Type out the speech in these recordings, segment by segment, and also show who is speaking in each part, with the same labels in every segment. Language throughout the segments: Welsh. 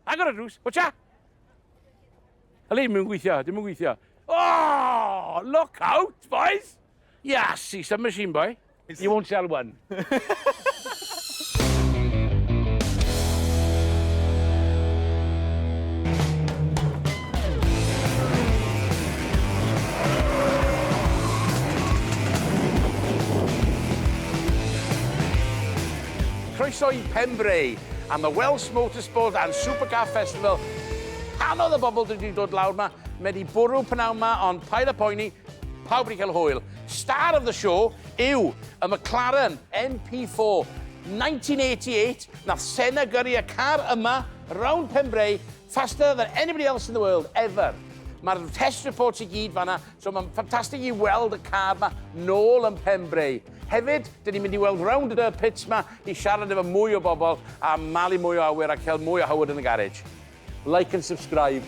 Speaker 1: Agor y drws, watcha! Hali, ddim yn gweithio, ddim yn gweithio. Oh, look out, boys! Yeah, see some machine, boy. You won't sell one. Croeso i Penfrey. am y Welsh Motorsport and Supercar Festival. Canodd y bobl dwi wedi dod lawr ma, mae wedi bwrw pnawn ma, ond paid a poeni, pawb wedi cael hwyl. Star of the show yw y McLaren MP4 1988, nath Senna gyrru y car yma, round Pembrey, faster than anybody else in the world, ever. Mae'r test reports i gyd fanna, So mae'n ffantastig i weld y car yma nôl yn pen breu. Hefyd, dyn ni'n mynd i weld round y pits yma i siarad efo mwy o bobl a malu mwy o awyr a cael mwy o Howard yn y garej. Like and subscribe.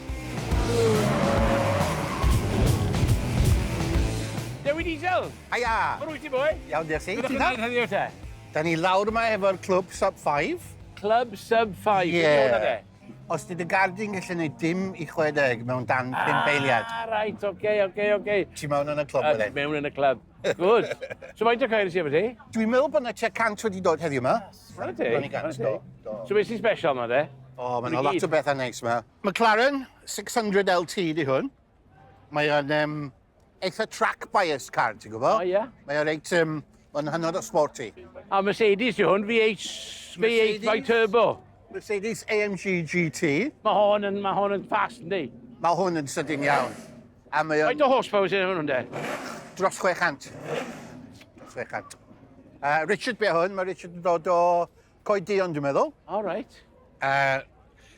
Speaker 1: Dewi Diesel! Haia! Mae'n rwyt ti,
Speaker 2: boi?
Speaker 1: Iawn, diolch ti. Ti'n
Speaker 2: dweud
Speaker 1: heddiw te? Da ni lawr yma
Speaker 2: efo'r clwb Sub 5. Clwb Sub
Speaker 1: 5? Ie. Yeah.
Speaker 2: Os di dy gard di'n gallu gwneud dim i 60 mewn dan 5 eiliad. Ah, right, oce, okay, oce,
Speaker 1: okay, oce. Okay. Ti mewn yn y clwb
Speaker 2: wedyn? Uh, mewn yn y clwb.
Speaker 1: Good. so faint o cair sy'n efo ti? Dwi'n meddwl bod yna tua
Speaker 2: 100 wedi dod heddiw yma. Rhaid ti?
Speaker 1: Rhaid
Speaker 2: ti? So beth sy'n special yma,
Speaker 1: de? O, oh, mae'n lot o bethau
Speaker 2: neis yma. McLaren 600 LT di hwn. Mae'n um, eitha track bias car, ti'n gwybod? O, ie. Mae o reit,
Speaker 1: um,
Speaker 2: mae'n hynod o sporty. A Mercedes
Speaker 1: yw hwn, V8, V8 by turbo. Mercedes
Speaker 2: AMG GT. Mae hon yn, mae
Speaker 1: hon yn fast, ynddi? Mae hwn yn sydyn
Speaker 2: iawn. A mae o'n... Faint o horsepower sy'n hwn, ynddi?
Speaker 1: Dros 600. Dros 600. Uh,
Speaker 2: Richard be hwn, mae Richard yn dod o Coed Duon, dwi'n meddwl. O, reit.
Speaker 1: Uh,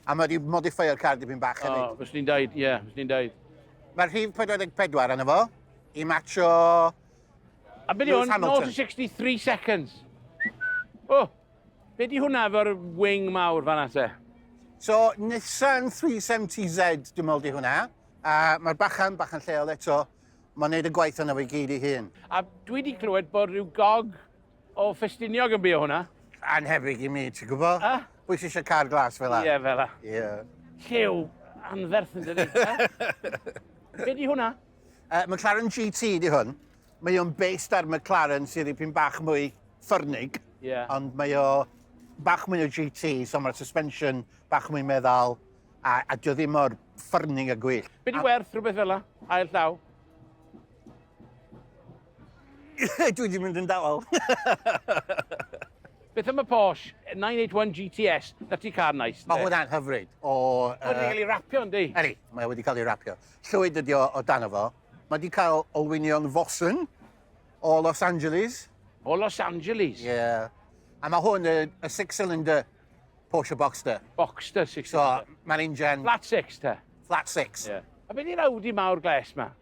Speaker 2: a mae wedi modifio'r car dipyn bach hefyd. O, fes ni'n daid, ie, yeah, fes
Speaker 1: ni'n daid. Mae'r rhif
Speaker 2: 44 yna fo, i matcho...
Speaker 1: A beth yw, 0 to 63 seconds. O, oh, be di hwnna efo'r wing mawr fan ate? So,
Speaker 2: Nissan 370Z, dwi'n meddwl di hwnna. A mae'r bachan, bachan lleol eto, mae'n neud y gwaith yna fe gyd i hun. A dwi wedi
Speaker 1: clywed bod rhyw gog O, Ffestiniog yn bio hwnna. Anhebyg i mi,
Speaker 2: ti'n gwybod? A? Pwy sy'n eisiau car
Speaker 1: glas
Speaker 2: fel la? Ie, fel la. Ie.
Speaker 1: Llew anferth yn dydi. Be di hwnna? Uh, McLaren
Speaker 2: GT di hwn. Mae o'n based ar McLaren sydd dipyn bach mwy ffyrnig. Ie. Ond mae
Speaker 1: o
Speaker 2: bach mwy o GT, so mae'r suspension bach mwy meddal. A, a dio ddim o'r ffyrnig a gwyll. Be di werth rhywbeth fel
Speaker 1: la? Ail llaw?
Speaker 2: Dwi wedi mynd yn dawel.
Speaker 1: Beth am y Porsche 981 GTS? Na ti car nice. Mae hwnna'n hyfryd. O, uh... Wedi
Speaker 2: cael ei
Speaker 1: rapio, ynddi? Eri, mae wedi cael ei
Speaker 2: rapio. Llwyd ydi o, o dan fo. Mae wedi cael olwynion fosyn o Los Angeles. O Los
Speaker 1: Angeles? Ie. Yeah.
Speaker 2: A mae hwn y, y six-cylinder Porsche Boxster. Boxster six-cylinder.
Speaker 1: So, mae'r injan...
Speaker 2: Flat six, te?
Speaker 1: Flat six. Ie. Yeah.
Speaker 2: A beth i'r Audi
Speaker 1: mawr gles ma?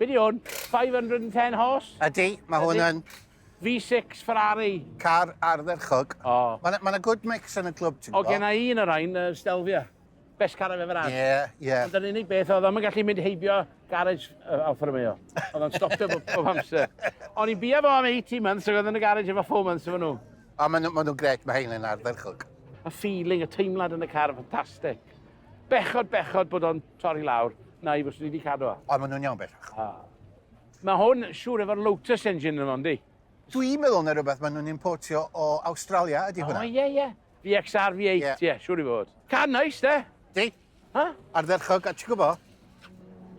Speaker 1: Be di hwn? 510 horse? Ydy, mae hwn yn. V6
Speaker 2: Ferrari.
Speaker 1: Car ardderchog.
Speaker 2: O. Oh. Mae yna
Speaker 1: good mix
Speaker 2: yn y clwb, ti'n gwybod? O, gen i un o'r ein,
Speaker 1: uh, Stelvia. Best car I've ever had. Ie, ie. Ond yr unig
Speaker 2: beth, oedd
Speaker 1: o'n gallu mynd heibio garage uh, Alfa Romeo. Oedd o'n stopio bob, bob amser. O'n i'n bia fo am 80 months, ac oedd yn y garage efo 4 months efo nhw. O, maen nhw'n ma nhw gret,
Speaker 2: mae hein yn ardderchog. Y feeling, y
Speaker 1: teimlad yn y car, ffantastig. bechod, bechod bod o'n torri lawr, na i fyswn i wedi cadw o. O, maen nhw'n iawn bellach. A.
Speaker 2: Mae
Speaker 1: hwn siŵr efo'r Lotus engine yn ondi. Dwi'n meddwl na
Speaker 2: rhywbeth maen nhw'n importio o Awstralia ydy hwnna. O, ie, ie. VXR
Speaker 1: V8, ie, yeah. yeah, siŵr i fod. Car nice, de? Di. Ha?
Speaker 2: Ardderchog, a ti'n gwybod,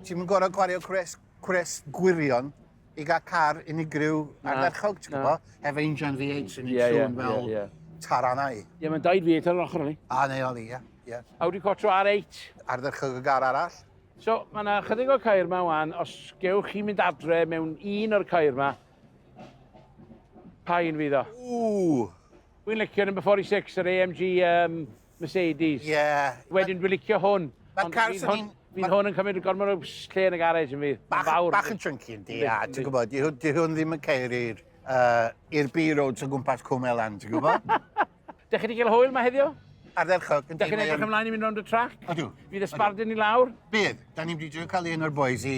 Speaker 2: ti'n mynd gorau gwario gwres cwres gwirion i gael car unigryw ardderchog, ti'n gwybod? Efo injan V8 sy'n yeah, yeah, fel yeah, yeah. taranau. Ie, yeah, mae'n daid V8
Speaker 1: ar yr ochr ni. A, neu oli, ie. Yeah.
Speaker 2: Audi Quattro
Speaker 1: R8. Ardderchog y gar
Speaker 2: arall. So, mae yna
Speaker 1: chydig o cair yma wan, os gewch chi mynd adre mewn un o'r cair yma, pa un fydd o? Ww! Wy'n licio number 46, yr AMG um, Mercedes. Ie.
Speaker 2: Wedyn
Speaker 1: dwi'n licio hwn.
Speaker 2: Ma'r car
Speaker 1: sy'n un... Fydd hwn yn cymryd gormod o lle yn y garej yn fydd. Bach, bach yn chunky
Speaker 2: yn di, a ti'n gwybod, di hwn ddim yn ceir i'r uh, B-roads o gwmpas Cwmelan, ti'n gwybod? Dych chi wedi
Speaker 1: cael hwyl mae heddiw? Ardderchog. Dych
Speaker 2: chi'n edrych ymlaen i
Speaker 1: mynd rownd y trac? Ydw. Fydd y sbardun
Speaker 2: i
Speaker 1: lawr? Bydd. Da ni'n wedi
Speaker 2: cael un o'r boys i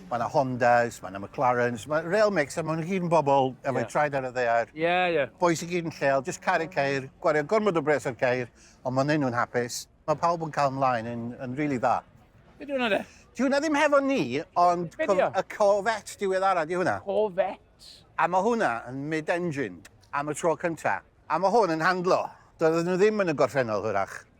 Speaker 2: Mae yna Hondas, mae yna McLarens, mae real mix, a mae'n gyd yn bobl efo yeah. traed ar y ddear. Ie, yeah, ie. Yeah. Boes i gyd
Speaker 1: yn lleol,
Speaker 2: jyst caru ceir, gwario gormod o bres ar ceir, ond mae'n neud nhw'n hapus. Mae pawb yn cael ymlaen yn, yn rili really dda. Be di hwnna de?
Speaker 1: Di hwnna ddim hefo ni,
Speaker 2: ond co y Corvette diweddara di hwnna. Corvette? A
Speaker 1: mae hwnna
Speaker 2: yn mid-engine am y tro cyntaf. A mae hwn yn handlo. Doedden nhw ddim yn y gorffennol hwyrach.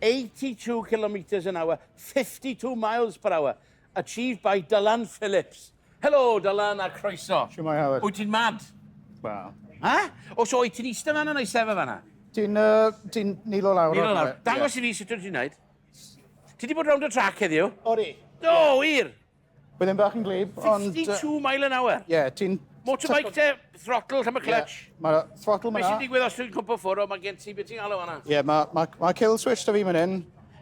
Speaker 1: 82 kilometres an hour, 52 miles per hour, achieved by Dylan Phillips. Helo, Dylan, a croeso. Siwmai, Howard. Wyt ti'n
Speaker 3: mad?
Speaker 1: Wel.
Speaker 3: Ha? O,
Speaker 1: so wyt ti'n eistedd fanna neu sefyll fanna? Ti'n uh, ti
Speaker 3: nilo lawr. Nilo lawr. Dangos yeah. i fi
Speaker 1: sut wyt ti'n neud. Ti wedi bod rownd y trac heddiw? Odi. Do,
Speaker 3: wir!
Speaker 1: Bydd e'n bach yn
Speaker 3: glib, ond... 62 mile an hour?
Speaker 1: Ie, yeah, ti'n... Motorbike
Speaker 3: te,
Speaker 1: throttle lle mae clutch. Yeah, mae throttle mae na.
Speaker 3: Beth sy'n digwydd os dwi'n cwmpa
Speaker 1: ffwrdd o, mae gen ti beth ti'n galw hwnna? Ie, yeah, mae ma, ma kill
Speaker 3: switch da fi mynd hyn.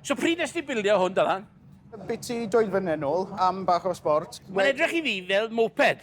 Speaker 3: So pryd nes ti
Speaker 1: bildio hwn, Dylan? Byti dwy
Speaker 3: flynedd nôl, am bach o sport. Mae'n edrych i fi fel
Speaker 1: moped.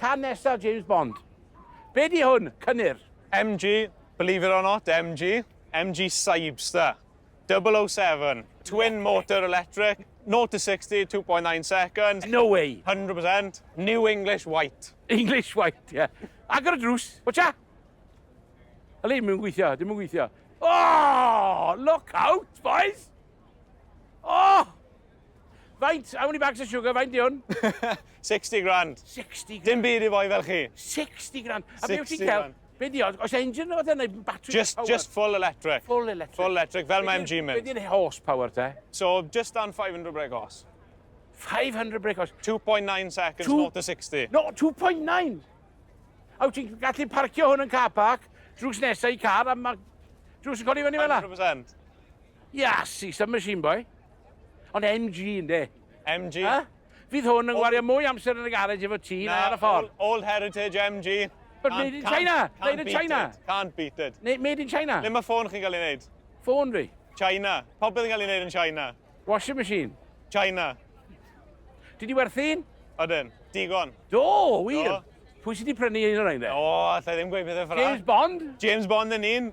Speaker 1: Cân nesa James Bond. Be di hwn? Cynnur. MG,
Speaker 4: believe it or not, MG, MG Cybster, 007, twin motor electric, 0 to 60, 2.9 seconds. No way.
Speaker 1: 100%, new
Speaker 4: English white. English white, ie. Yeah.
Speaker 1: Agor y drws, watcha! Alin, mi'n gweithio, dim yn gweithio. Oh, look out, boys! Oh! Faint? How many bags of sugar? Faint di hwn? 60 grand. 60
Speaker 4: grand. Dim byd
Speaker 1: i foi fel chi. 60
Speaker 4: grand.
Speaker 1: A beth ti'n cael? Be di
Speaker 4: oedd?
Speaker 1: Os
Speaker 4: engine
Speaker 1: oedd yna, battery just, power? Just full electric.
Speaker 4: Full electric. Full electric,
Speaker 1: fel mae MG
Speaker 4: mynd. Be di'n horsepower te?
Speaker 1: So, just on 500
Speaker 4: brake horse. 500 brake horse. 2.9 seconds,
Speaker 1: Two...
Speaker 4: 0 to 60. No, 2.9!
Speaker 1: A wyt ti'n gallu parcio hwn yn car park, drws nesau i car, a mae drws yn codi fyny fel 100%.
Speaker 4: Iasi,
Speaker 1: submachine boy. Ond MG ynde? MG. Ha?
Speaker 4: Fydd hwn
Speaker 1: yn gwario mwy amser yn y garage efo ti na ar y ffordd. All, all heritage MG.
Speaker 4: But can't, made in China!
Speaker 1: Can't, made in China! It. Can't beat it. Ne,
Speaker 4: made in China. Le mae
Speaker 1: ffôn chi'n cael ei wneud?
Speaker 4: Ffôn fi?
Speaker 1: China. Popeth yn
Speaker 4: cael ei wneud yn China. Washing machine?
Speaker 1: China. Dwi di werthu'n? Odyn. Digon.
Speaker 4: Do, wir. Do.
Speaker 1: Pwy sydd wedi
Speaker 4: prynu un
Speaker 1: o'r ein de? O, allai ddim gweud
Speaker 4: pethau ffrag. James Bond? James
Speaker 1: Bond yn un.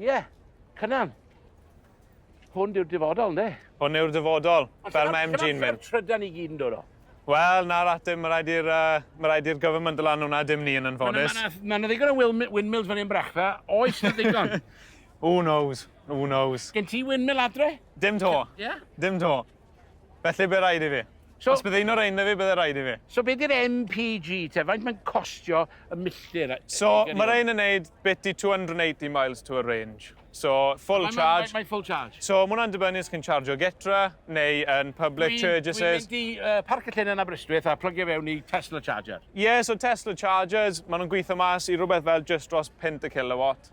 Speaker 1: Ie, Cynan. Hwn yw'r dyfodol, ynddi? Hwn yw'r dyfodol,
Speaker 4: fel mae MG yn mynd. Trydan i gyd yn dod o.
Speaker 1: Wel, na ratim,
Speaker 4: mae rhaid i'r uh, mae rhaid i'r government lan hwnna, dim ni yn anffodus. Mae'n ddigon o
Speaker 1: windmills fan hyn brechfa, oes na ddigon? Who knows,
Speaker 4: who knows. Gen ti windmill adre?
Speaker 1: Dim to. Ie?
Speaker 4: Dim to. Felly be rhaid i fi? So, Os bydd un o'r ein na fi, bydde rhaid i fi. So beth yw'r MPG
Speaker 1: te? Faint mae'n costio y milltir? So mae'r ein yn
Speaker 4: neud bit i 280 miles to a range. So full mae, charge. Mae, mae full charge. So mae
Speaker 1: hwnna'n dibynnu os chi'n
Speaker 4: chargio getra neu yn public charges. Dwi'n mynd i uh, parc
Speaker 1: y llun yn Aberystwyth a plygio fewn i Tesla charger. Ie, yeah, so Tesla
Speaker 4: chargers, maen nhw'n gweithio mas i rhywbeth fel just dros 50 kilowatt.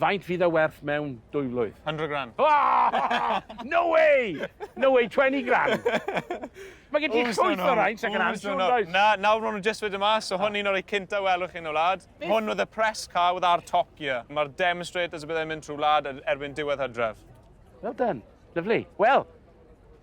Speaker 1: Faint fydd
Speaker 4: e werth
Speaker 1: mewn dwy flwydd? Hundred grand. No way! No way, twenty grand! Mae gen ti Ww, so llwyth o raint ac yn Ww, so ansiwn, does? Na, nawr maen nhw jyst
Speaker 4: wedi mas, so hwn un o'r rei cynta welwch chi yn y wlad. Hwn oedd y press car with our Top Gear. Mae'r demonstrators y byddai'n mynd trwy wlad erbyn diwedd hydref. Well done.
Speaker 1: Lyfli. Wel,